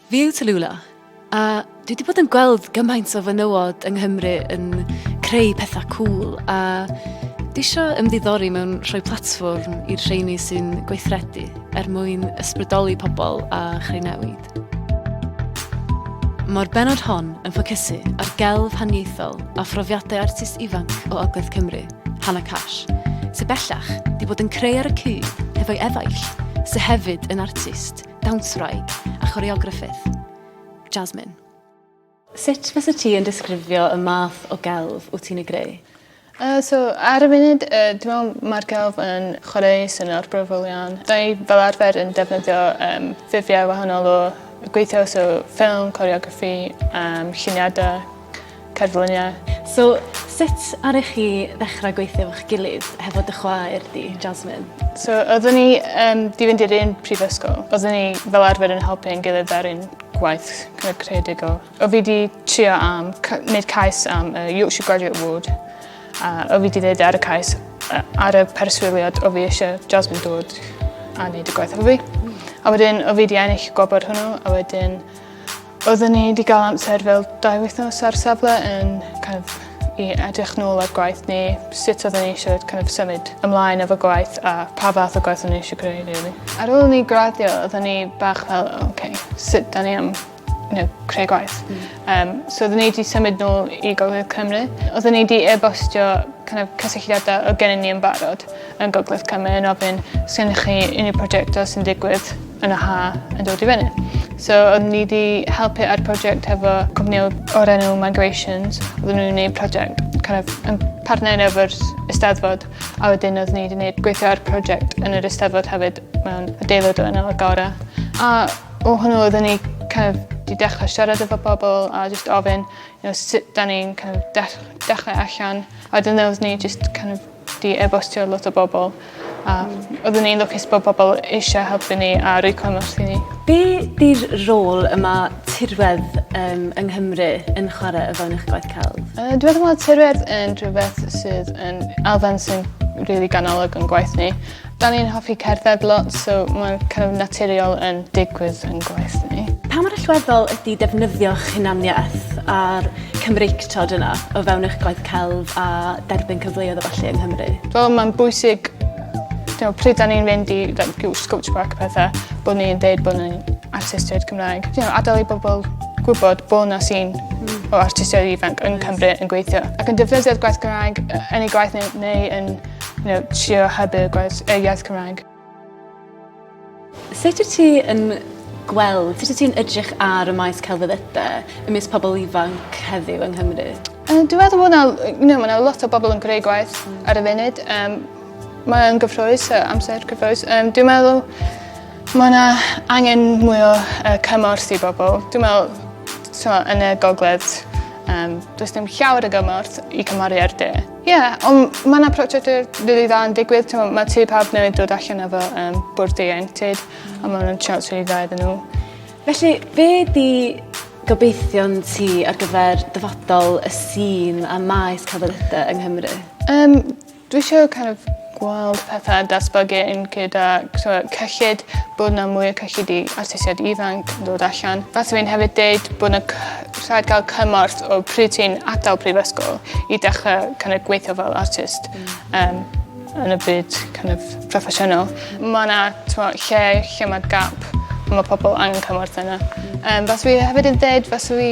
Fyw Tallulah! A dwi wedi bod yn gweld gymaint o fenywod yng Nghymru yn creu pethau cool a dwi eisiau ymddiddori mewn rhoi platfform i'r rheini sy'n gweithredu er mwyn ysbrydoli pobl a chreu newid. Mae'r benod hon yn ffocysu ar gelf haniaethol a phrofiadau artist ifanc o Ogledd Cymru. Hannah Cash, sy bellach di bod yn creu ar y cyd hefo'i efaill, sy hefyd yn artist, dawnswraig a choreograffydd. Jasmine. Sut fysa ti yn disgrifio y math o gelf wyt ti'n ei greu? Uh, so, ar y funud, uh, dwi'n meddwl mae'r gelf yn chwarae sy'n o'r brofol iawn. Da ni fel arfer yn defnyddio um, ffurfiau wahanol o gweithio, so ffilm, coreograffi, um, lluniadau, Cerfluniau. So, sut aru chi ddechrau gweithio efo'ch gilydd hefo dy chwaer di, Jasmine? So, oeddwn ni um, di fynd i'r un prifysgol. Oeddwn ni fel arfer yn helpu yn gilydd ar un gwaith kind creadigol. O fi di trio am, wneud cais am uh, Yorkshire Graduate Award. A o fi di ddeud ar y cais, uh, ar y perswyliad o fi eisiau Jasmine dod a wneud y gwaith efo fi. A wedyn, o fi di ennill gwobr hwnnw, a wedyn Oedden ni wedi cael amser fel dau wythnos ar safle yn kind of, i edrych nôl ar gwaith ni, sut oedden ni eisiau kind of, symud ymlaen efo gwaith a pa fath o gwaith oedden ni eisiau creu really. Ar ôl ni graddio oedden ni bach fel, oh, okay, sut da ni am you know, creu gwaith. Mm. Um, so oedden ni wedi symud nôl i Gogledd Cymru. Oedden ni wedi e-bostio kind of, cysylltiadau o gennym ni yn barod. yn Gogledd Cymru yn ofyn os gennych chi unrhyw prosiectau sy'n digwydd yn y ha yn dod i fyny. So oedd ni wedi helpu ar prosiect hefo cwmni o'r enw Migrations. Oedden nhw'n gwneud prosiect kind of, yn partner efo'r Eisteddfod a wedyn oedd ni wedi gwneud gweithio ar prosiect yn yr Eisteddfod hefyd mewn adeilad o enw Agora. A o hwnnw oedden ni kind of, di dechrau siarad efo pobl a just ofyn you know, sut da ni'n kind of, dechrau allan. A wedyn oedden ni just kind of, 'di e-bostio lot o bobl a oeddwn i'n lwcus bod pobl eisia helpu ni a roi cymorth i ni. Be' 'di'r rôl y ma' tirwedd yym yng Nghymru yn chware o fewn eich gwaith celf? Yy dwi meddwl ma' tirwedd yn rhwbeth sydd yn elfen sy'n rili ganolog yn gwaith ni. Dan ni'n hoffi cerdded lot so ma'n kind of naturiol yn digwydd yn gwaith ni. Pa mor allweddol ydi defnyddio'ch hunaniaeth a'r Cymreictod yna o fewn eich gwaith celf a derbyn cyfleoedd a ballu yng Nghymru? Wel ma'n bwysig you know, pryd da ni'n fynd i like, you Scotch Park a pethau, bod ni'n deud bod ni'n artistiaid Cymraeg. You know, adael i bobl gwybod bod na sy'n hmm. o artistiaid ifanc yn Cymru yn gweithio ac yn defnyddio'r gwaith Cymraeg yn ei gwaith neu, neu yn you know, trio hybu gwaith, yy iaith Cymraeg. Sut wyt ti yn gweld, sut wyt ti'n edrych ar y maes celfyddydau ymysg pobl ifanc heddiw yng Nghymru? Uh, dwi'n meddwl bod yna, you know, ma lot o bobl yn greu gwaith ar y funud. Um, mae'n gyffroes, uh, amser gyffroes. Um, dwi'n meddwl mae yna angen mwy o uh, cymorth i bobl. Dwi'n meddwl, so, yn y gogledd, um, does dim llawer o gymorth i cymharu ar de. Ie, yeah, ond mae yna prosiectau rili dda yn digwydd. Tewa, mae tu pawb newydd dod allan efo um, bwrdd ieuenctid, mm. a mae hwnna'n siawns rili dda iddyn nhw. Felly, be di gobeithion ti ar gyfer dyfodol y sîn a maes celfyddydau yng Nghymru? Um, dwi eisiau kind of gweld petha datblygu yn gyda t'mo' cyllid bod 'na mwy o cyllid i artistiaid ifanc yn dod allan. Faswn i'n hefyd deud bo' 'na cy- rhaid ga'l cymorth o pryd ti'n atal prifysgol i dechre kin' o' gweitho fel artist. Hmm. Yym yn y byd kin' of proffesiynol. Ma' 'na t'mo' lle lle ma' gap a ma' pobol angen cymorth yna. Hmm. Yym fasw i hefyd yn deud fasw i